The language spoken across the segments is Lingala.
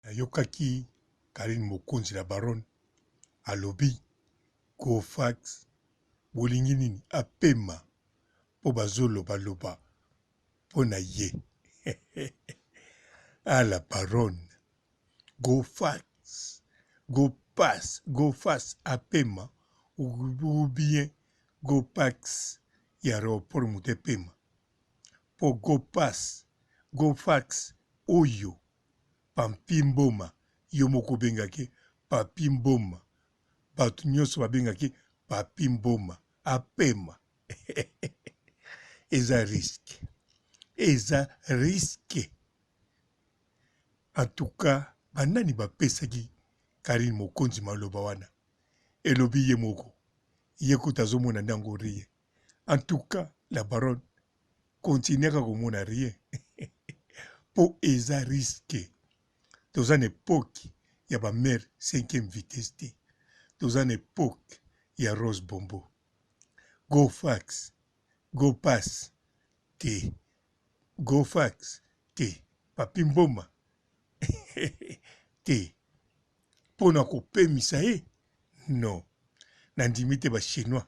Nayokaki Carine Mokonzi la baronne alobi Cofax bolingi nini apema po bazo loba loba pona ye ah la baronne go fax go pass go fax apema ou bien go pax ya aeroport moto epema po go pass go fax oyo Pampy Mboma, yo moko obengaki ye Papy Mboma, batu nionso babengaki ye Papy Mboma, apema eza risque, eza risque. En tout cas, ba nani bapesaki Carine Mokonzi maloba wana? Elobi ye moko, ye kutu azomona nde yango rien. En tout cas, la baronne continuaka komona rien po eza risque toza na epoque ya ba mère cinquième vitesse te toza na epoque ya rose bombo go fax go pass te go fax te papi mboma te mpo na kopemisa ye non nandimi te bachinois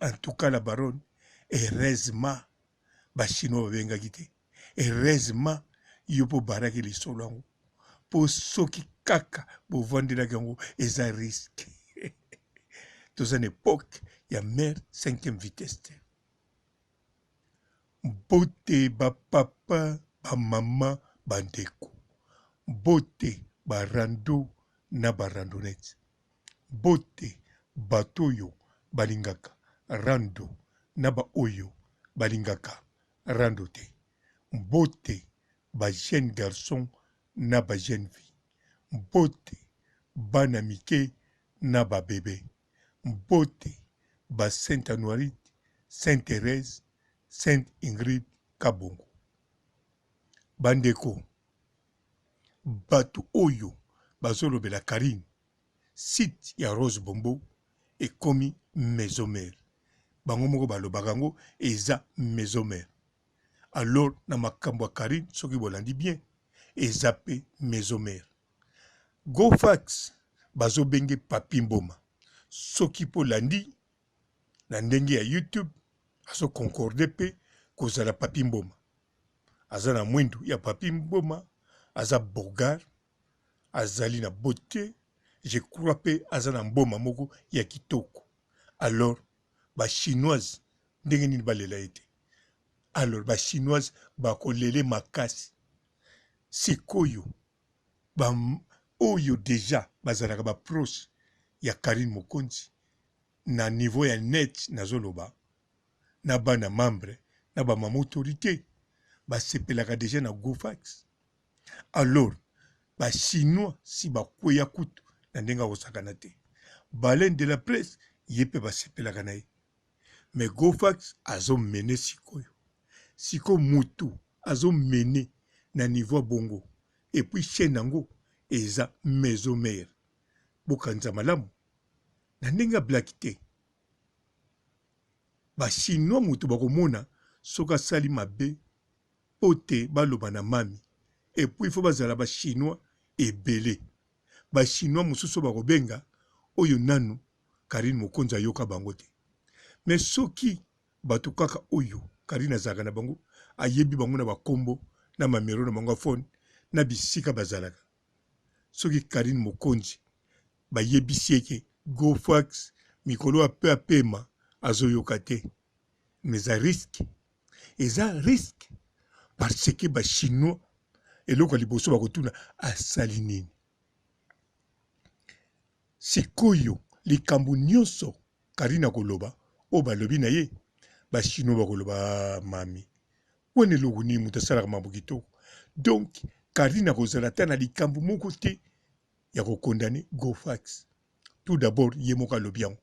En tout cas la baronne heureusement ba chinois babengaki te heureusement yo mpo obaraki lisolo yango mpo soki kaka bovandelaki yango eza riske toza na epoke ya mare cinquième vitesse te mbote bapapa bamama bandeko mbote barando na barandonete Mbote bato oyo balingaka rando na ba oyo balingaka rando te. Mbote ba jeunes garçons na ba jeunes filles. Mbote bana mike na ba bebes. Mbote ba Sainte Anuarite, Sainte Therèse, Sainte Ingrid, Kabongo. Ba ndeko, Batu oyo bazo lobela Carine site ya rose bombo ekomi maison mere bango moko ba lobaka yango eza maison mere alors na makambo ya Carine soki bolandi bien eza pe maison mere go fax bazo benge papy mboma soki po landi na ndenge ya youtube azo concorde pe kozala papy mboma aza na mwindu ya papy mboma aza bogar azali na bote je crois mpe aza na mboma moko ya kitoko alors ba chinoise ndenge nini balela ye te alors ba chinoise bakolele makasi sikoyo ba oyo deja bazalaka ba proche ya karine mokonzi na niveau ya net nazoloba na bana membres na ba mama autorite basepelaka deja na gofax alors ba chinois si bakweya kutu na ndenge akosakana te baleine de la presse ye mpe basepelaka na ye mais gofax azomene sikoyo sikoyo mutu azomene na niveau ya bongo epuis chaine yango eza maison mare bokanisa malamu na ndenge ya blaki te Ba chinois moto bakomona soki asali mabe pote baloba na mami epuis il faut bazala ba chinois ebele ba chinois mosusu bakobenga oyo nanu carine mokonzi ayoka bango te mais soki bato kaka oyo carine azalaka na bango ayebi bango na bakombo na mamero na bango ya phone na bisika bazalaka soki Carine Mokonzi ba yebisi ye ke Go Fax mikolo oyo ape apema azo yoka te mais eza risque eza risque parce que ba chinois eloko ya liboso bakotuna asali nini sikoyo likambo nyonso Carine akoloba oyo balobi na ye ba chinois bakoloba ah, mami Wana eloko nini moto asalaka mambo kitoko. Donc Carine akozala ata na likambo moko te ya ko condamner Gofax. Tout d'abord ye moko alobi yango.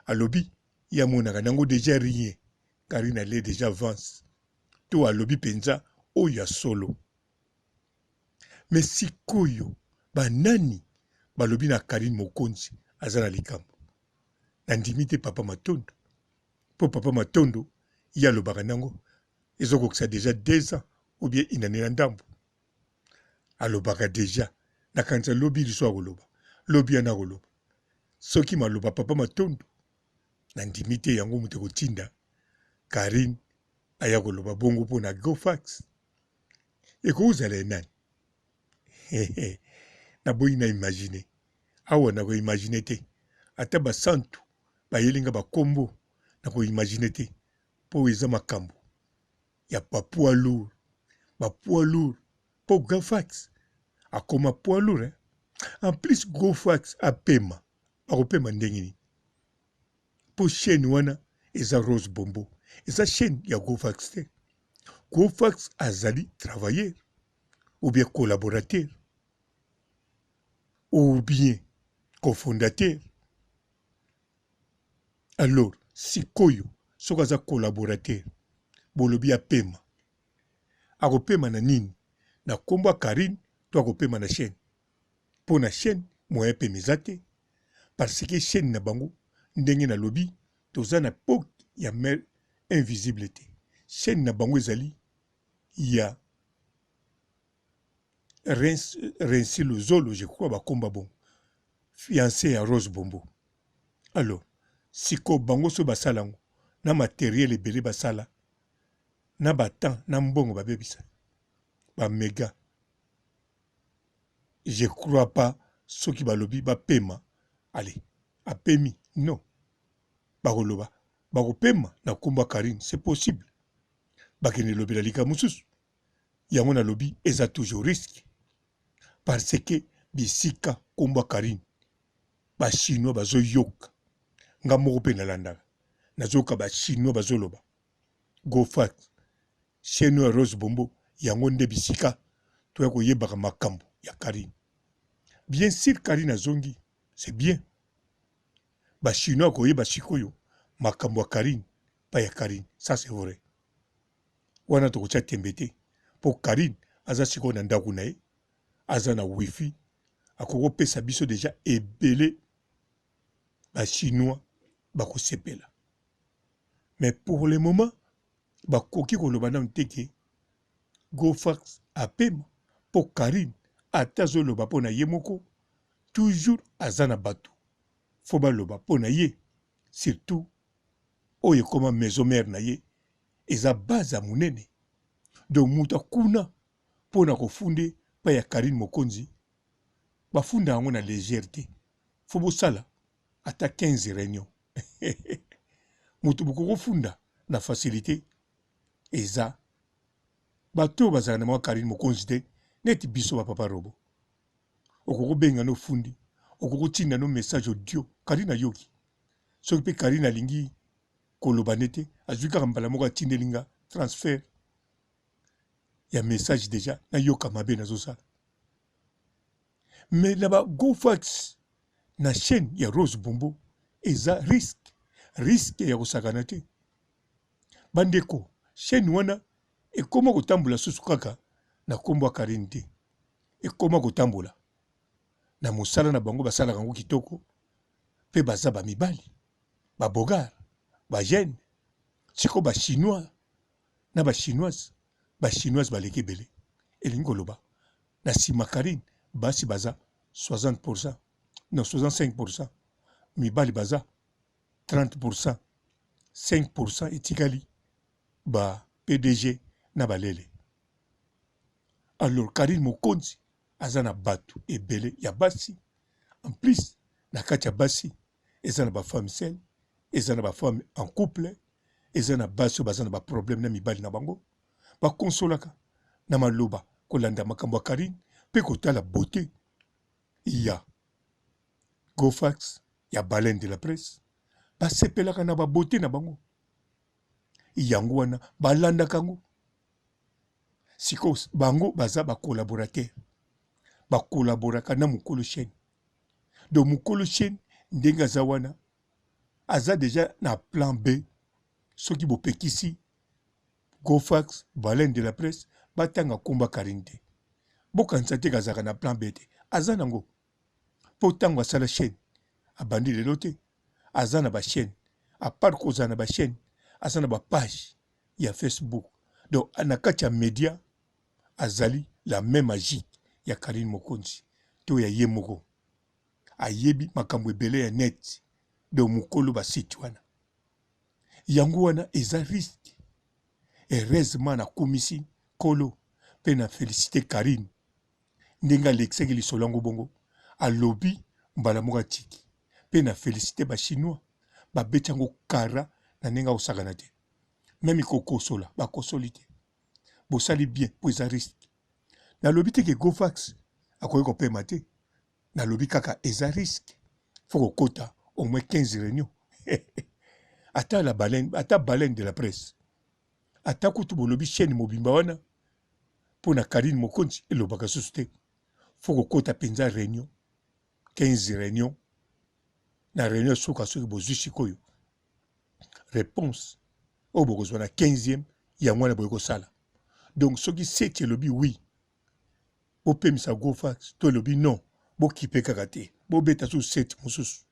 Alobi ye amonaka nango dejà rien. Carine alie dejà avance. To alobi penza oyo ya solo. Mais sikoyo ba nani balobi na Carine Mokonzi aza na likambo? Na ndimi te papa Matondo. Po papa matondo ye alobaka nango ezo kokisa deja deux ans ou bien une annee na ndambu alobaka deja na kanisa lobi lisusu akoloba lobi wana akoloba soki maloba papa matondo na ndimi te yango moto ekotinda Carine aya koloba bongo mpo na Gofax ekozala enani naboyi na imagine awa na koimagine te ata basantu bayeli nga bakombo na koimagine te mpo eza makambo ya bapoids lourd bapoids lourd mpo gafax akoma poids lourd eh? en plus gofax apema akopema ndenge nini mpo chaîne wana eza rose bombo eza chaîne ya gofax te gofax azali travailleur ou bien collaborateur ou bien cofondateur alors sikoyo soki aza collaborateur bolobi apema akopema na nini na nkombo ya karine to akopema na chaîne mpo na chaîne moyen pema eza te parce que chaîne na bango ndenge nalobi toza na poke ya mare invisible te chaîne na bango ezali ya Rensi Luzolo je crois bakomba bongo fiance ya Rose Bombo alors siko bango so basala yango na materiel ebele basala na batemp na mbongo babebisa bamega je crois pas soki balobi bapema ale apemi non bakoloba bakopema na nkombo ya karine c'est possible bakende lobela likambo mosusu yango nalobi eza toujours risque parce que bisika nkombo ya karine bachinois bazoyoka nga moko mpe nalandaka nazoyoka bachinois bazoloba gofat cheno ya rose bombo yango nde bisika toya koyebaka makambo ya karine bien sur karine azongi c'est bien bachinois koyeba sikoyo makambo ya karine epai ya Carine ça c'est vrai wana tokotia tembe te mpo Carine aza sikoyo na ndako na ye aza na wifi akoki kopesa biso deja ebele bachinois bakosepela mais pour le moment bakoki koloba nano te ke gofax apema mpo carine ata azoloba mpo na ye moko toujours aza na bato fo baloba mpo na ye surtout oyo ekoma maison mère na ye eza base ya munene donc mutu akuna mpo na kofunde pa ya Carine Mokonzi bafunda yango na legere te fo bosala ata 15 reunion mutu bokokofunda na facilite eza bato oyo bazalaka na mwa Carine Mokonzi te neti biso ba papa robo okokobenga no fundi okokotinda no message audio Carine ayoki soki pe Carine alingi koloba nde te azui kaka mbala moko atindeli nga transfert ya message deja nayoka mabe nazosala mais na ba gofax na chaîne ya Rose Bombo eza risque risque ya kosakana te bandeko chaîne wana ekoma kotambola susu kaka na kombo ya Carine te ekoma kotambola na mosala na bango basalaka yango kitoko pe baza ba mibali ba bogar ba jeune siko ba chinois na ba chinoise ba chinoise baleki ebele elingi koloba na sima carine basi baza 60 pourcent non 65 pourcent mibali baza 30 pourcent 5 pourcent etikali ba pdg na balele alors carine mokonzi aza na batu ebele ya basi en plus na kati ya basi eza na ba femme seul eza na ba femme en couple eza na basi oyo baza na ba problème na mibali na bango ba consolaka na maloba kolanda makambo ya Carine mpe kotala beauté ya Gofax ya baleine de la presse basepelaka na babote na bango yango wana balandaka yango sikoyo bango baza ba collaborateur ba collaboraka na mokolo chaine donc mokolo chaine ndenge aza wana aza deja na plan b soki bopekisi gofax baleine de la presse batanga komba karine te bokanisa te kazalaka na plan b te aza nango mpo ntango asala chaîne abandi lelo te aza na bachaîne apart kozala na bachaîne aza na bapage ya facebook donc na kati ya media azali la même agie ya karine mokonzi to ya ye moko ayebi makambo ebele ya net donc mokolo basite wana yango wana eza riske heureusement nakumisi nkolo mpe na felicite karine ndenge alekisaki lisolo yango bongo alobi mbala moko atiki mpe na felicite ba chinois babeti yango kara na ndenge akosakana te meme kokosola bakosoli te bosali bien mpo eza riske nalobi te ke govax akoki kopema te nalobi kaka eza riske fo kokota au moins 15 réunion ata la baleine ata baleine de la presse Ata kutu bolobi chaine mobimba wana mpo na Carine Mokonzi elobaka susu te. Faut kokota penza reunion 15 reunion na reunion suka soki bozwi sikoyo réponse oyo bokozwa na 15e yango wana boye kosala donc soki seti elobi wi bopemisa gofax to elobi non bokipe kaka te bobeta susu seti mosusu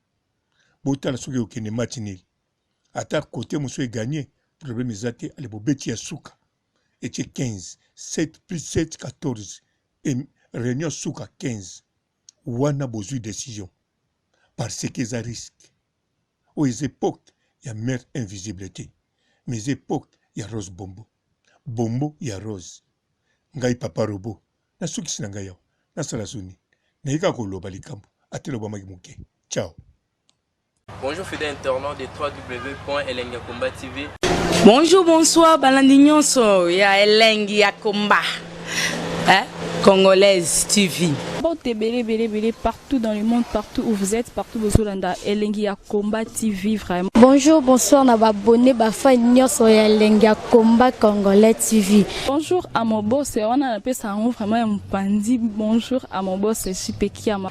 botala soki okende match nil ata cote mosusu e gagner problème eza te ale bobeti ya suka etie 15 7 plus 7 14 et réunion suka 15 wana bozwi décision parce que eza risque oyo eza époque ya mère invisible te mais eza époque ya rose bombo bombo ya rose ngai papa robo nasukisi na ngai awa nasala soni naye kaka koloba likambo atelobamaki moke ciao Bonjour fidèle internaute de www.elengiakombatv. Bonjour, bonsoir, balandi nyonso ya elengi ya combat. Hein? Congolaise TV. Porte belé belé belé partout dans le monde, partout où vous êtes, partout où Zolanda, Elengi ya combat TV vraiment. Bonjour, bonsoir na ba abonné ba fan nyonso ya Elengi ya combat congolais TV. Bonjour à mon boss, on a la pesa vraiment un panzi. Bonjour à mon boss, Chipekiama.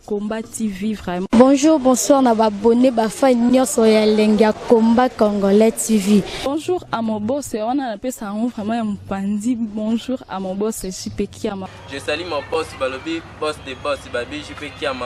Combat TV vraiment. Bonjour, bonsoir na babone bafa nyonso ya elengi ya Combat Congolais TV. Bonjour à mon boss, wana napesa yango vraiment ya mopanzi. Bonjour à mon boss JP Kiama. Je salue mon boss balobi boss de boss babi JP Kiama.